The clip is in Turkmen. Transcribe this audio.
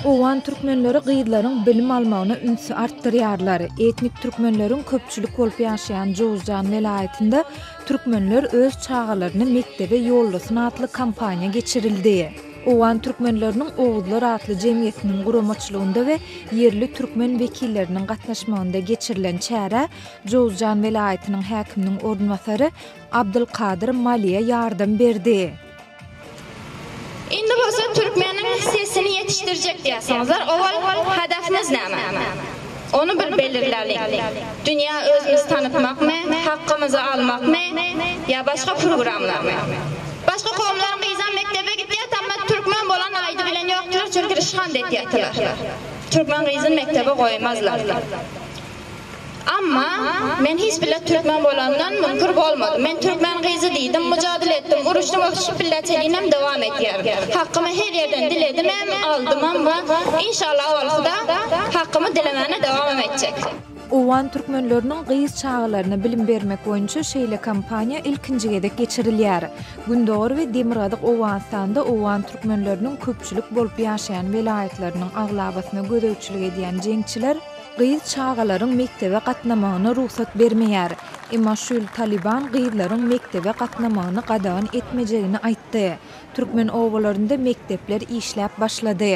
Owgan türkmenleri gyzlaryň bilim almagyna ünsi artdyrýarlar. Etnik türkmenleriň köpçülik bolup ýaşaýan Jowuzjan welaýatynda Türkmenler öz çagalaryny mekdebe ýollasyn atly kampaniýa geçirildi. Owgan türkmenleriniň Oguzlar atly jemgyýetiniň guramaçylygynda we ýerli türkmen wekilleriniň gatnaşmagynda geçirilen çärä Jowuzjan welaýatynyň häkiminiň orunbasary Abdylkadyr Maliýa ýardam berdi. Indi bolsa türkmeniň sesini ýetişdirjek diýýärsiňizler, owal hedefimiz näme? Ony bir belirläliň. Dünýä özümizi tanytmakmy, hakkymyzy almakmy ýa başga programlarmy? Başga kowumlaryň gyzam mekdebe gitýär tamma türkmen bolan aýdy bilen ýokdylar çünki ryşhand etýärtiler. Türkmen gyzyn mekdebe goýmazlar. Amma, men hiç bile türkmen bolandan müňkür bolmadym. Men türkmen gyzy diýdim, mujadyle etdim, uruşdym we şu pilleçelinem dowam edýär. Hakkymy her ýerden diledimem, aldymam we, inşallah, owalkyda hakkymy dilemäne dowamam etjek. Owgan türkmenleriniň gyz çagalaryna bilim bermek boýunça şeýle kampaniýa ilkinji gezek geçirilýär. Gündogar we Demirgazyk Owganystanda owgan türkmenleriniň köpçülik bolup ýaşaýan welaýatlarynyň aglabasyna gözegçilik edýän jeňçiler, Gyz çagalaryň mekdebe gatnamagyna rugsat bermeýär. Emma şu ýyl Talyban gyzlaryň mekdebe gatnamagyny gadagan etmejegini aýtdy. Türkmen obalarynda mekdepler işläp başlady.